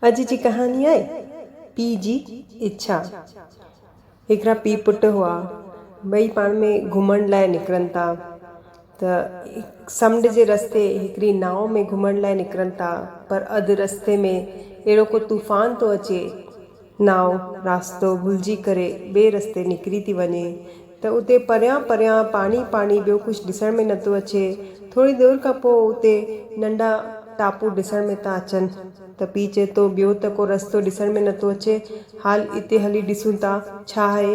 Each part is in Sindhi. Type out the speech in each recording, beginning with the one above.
اڄ جي ڪهاڻي آهي پيء جي اڇا. هڪڙا پيء پٽ هئا. ٻئي پاڻ ۾ گهمڻ لاء نڪرن ٿا ته سمنڊ جي رستي هڪڙي ناء ۾ گهمڻ لاء نڪرن ٿا پر اڌ رستي ۾ اهڙو ڪو طوفان ٿو اچي نائو راستو ڀلجي ڪري ٻئي رستي نڪري ٿي وڃي ته اتي پريان پريان پاڻي پاڻي ٻيو ڪجهه ڏسڻ ۾ نٿو اچي ٿوري دير کان پوء اتي ننڍا ٽاپو ڏسڻ ۾ ٿا اچن ته پيء چئي ٿو ٻيو ته ڪو رستو ڏسڻ ۾ نٿو اچي حال اتي هلي ڏسون ٿا ڇا آهي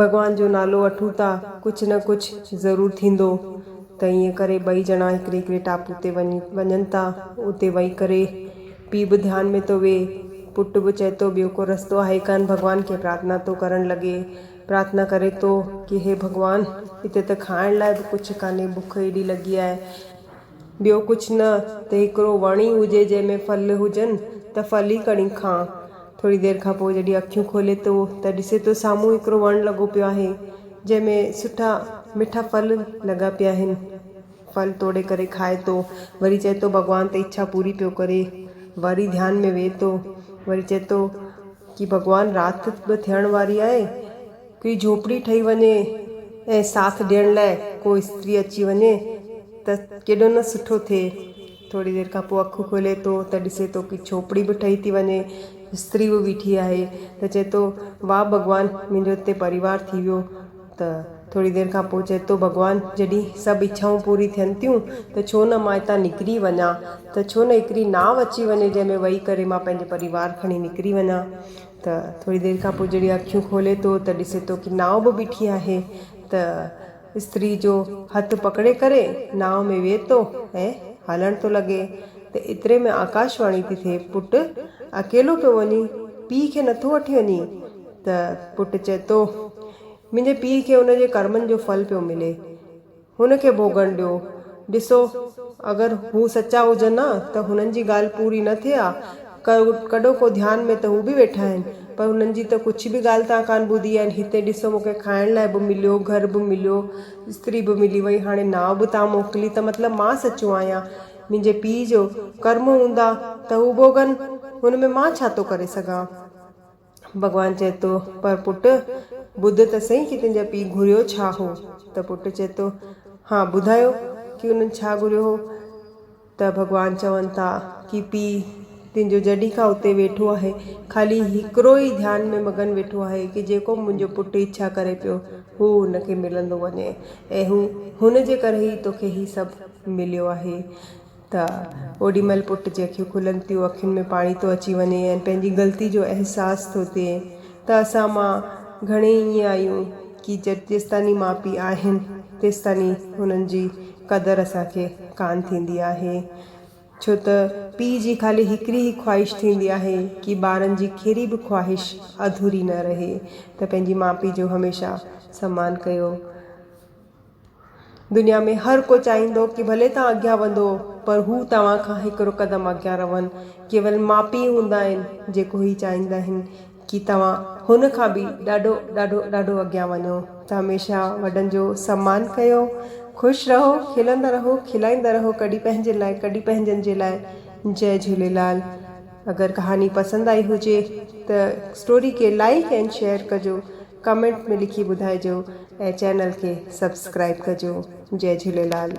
ڀڳوان جو نالو وٺون ٿا، ڪجهه نه ڪجهه ضرور ٿيندو. ته ائين ڪري ٻئي ڄڻا هڪڙي هڪڙي ٽاپو تي وڃن ٿا. اتي ويهي ڪري پيء به ڌيان ۾ ٿو ويهي، پٽ به چئي ٿو ٻيو ڪو رستو آهي ڪانه ڀڳوان کي پرارٿنا ٿو ڪرڻ لڳي. پرارٿنا ڪري ٿو ڪي هي ڀڳوان هتي ته کائڻ لاء به ڪجهه ڪانهي بک ايڏي لڳي آهي. ٻيو ڪجهه نه ته هڪڙو وڻ ئي هجي جنهن ۾ ڦل هجن ته ڦل ئي کڻي کان. ٿوري دير کان پوء جڏهن اکيون کولي ٿو ته ڏسي ٿو سامهون هڪڙو وڻ لڳو پيو آهي جنهن ۾ سٺا مٺا ڦل لڳا پيا آهن. ڦل توڙي ڪري کائي ٿو وري چئي ٿو ڀڳوان ته اڇا پوري پيو ڪري. وري ڌيان ۾ ويهي ٿو وري چئي ٿو ڪي ڀڳوان رات به ٿيڻ واري آهي. ڪي جهوپڙي ٺهي وڃي ۽ ساٿ ڏيڻ لاء ڪو استري اچي وڃي ته ڪيڏو نه سٺو ٿئي. ٿوري دير کان پوء اکيون کولي ٿو ته ڏسي ٿو ڪي جهوپڙي به ٺهي ٿي وڃي، استري به بيٺي آهي ته چئي ٿو واه ڀڳوان منهنجو هتي پريوار ٿي ويو ته ٿوري دير کان پوء چئي ٿو ڀڳوان جڏهن سڀ اڇائون پوري ٿين ٿيون ته ڇو نه مان هتان نڪري وڃان ته ڇو نه هڪڙي ناو اچي وڃي جنهن ۾ وهي ڪري مان پنهنجي پريوار کڻي نڪري وڃان. ته ٿوري دير کان پوء جڏهن اکيون کولي ٿو ته ڏسي ٿو ڪي ناء به بيٺي آهي ته استري جو هٿ پڪڙي ڪري ناء ۾ ويهي ٿو ۽ هلڻ ٿو لڳي ته ايتري ۾ آڪاش واڻي ٿي ٿئي پٽ اڪيلو پيو وڃين پيء کي نٿو وٺي وڃين ته پٽ چئي ٿو منهنجي پيء کي ان جي ڪرمن جو ڦل پيو ملي. هن کي ڀوڳڻ ڏيو. ڏسو اگر هو سچا هجن ها ته هنن جي ڳالهه پوري نه ٿئي ها. ڪڏهو ڪو ڌيان ۾ ته هو به ويٺا آهن. پر هنن جي ته ڪڇ به ڳالهه توهان ڪانه ٻڌي آهن. هتي ڏسو مون کي کائڻ لاء به مليو، گهر به مليو، استري به ملي وئي، هاڻي نانء به توهان موڪلي ته مطلب مان سچو آهيان. منهنجي پيء جو ڪرم هوندا ته هو ڀوڳن، هن ۾ مان ڇا ٿو ڪري سگهان. ڀڳوان چئي ٿو، پر پٽ! ٻڌ ته سهي ڪي تنهنجا پيء گهريو ڇا هو؟ ته پٽ چئي ٿو، ها ٻڌايو ڪي انهن ڇا گهريو هو؟ ته ڀڳوان چون ٿا ڪي پيء تنهنجو جڏهين کان اتي ويٺو آهي، خالي هڪڙو ئي ڌيان ۾ مگن ويٺو آهي ڪي جيڪو به منهنجو پٽ اڇا ڪري پيو، هو هن کي ملندو وڃي ۽ هن جي ڪري ئي توکي هي سڀ مليو آهي. ته اوڏي مهل پٽ جنهن کي کلن تيون اکين ۾ پاڻي ٿو اچي وڃي ۽ پنهنجي غلطي جو احساس ٿو ٿئي ته اسان مان گهڻي ائين آهيون ڪي جت جيستاني ماء پي آهن تيستاني هنن جي قدر اسان کي ڪان ٿيندي آهي ڇو ته پي جي خالي هڪڙي ئي خواهش ٿيندي آهي ڪي ٻارن جي ڪهڙي به خواهش اڌوري نه رهي ته پنهنجي ماء پي جو هميشه سمان ڪيو. دنيا ۾ هر ڪو چاهيندو ڪي ڀلي توهان اڳيان وڌو پر هو توهان کان هڪڙو قدم اڳيان رهن. ڪيول ماء پيء هوندا آهن جيڪو هي چاهيندا آهن ڪي توهان هن کان به ڏاڍو ڏاڍو ڏاڍو اڳيان وڃو ته هميشه وڏن جو سمان ڪيو خوش رهو کلندا رهو کلائيندا رهو ڪڏي پنهنجي لاء ڪڏي پنهنجن جي لاء جئي جهوليلال اگر ڪهاڻي پسند آئي هجي ته اسٽوري کي لائيڪ اينڊ شيئر ڪجو. ڪمينٽ ۾ لکي ٻڌائجو ۽ چينل کي سبسڪرائب ڪجو جئي جهوليلال.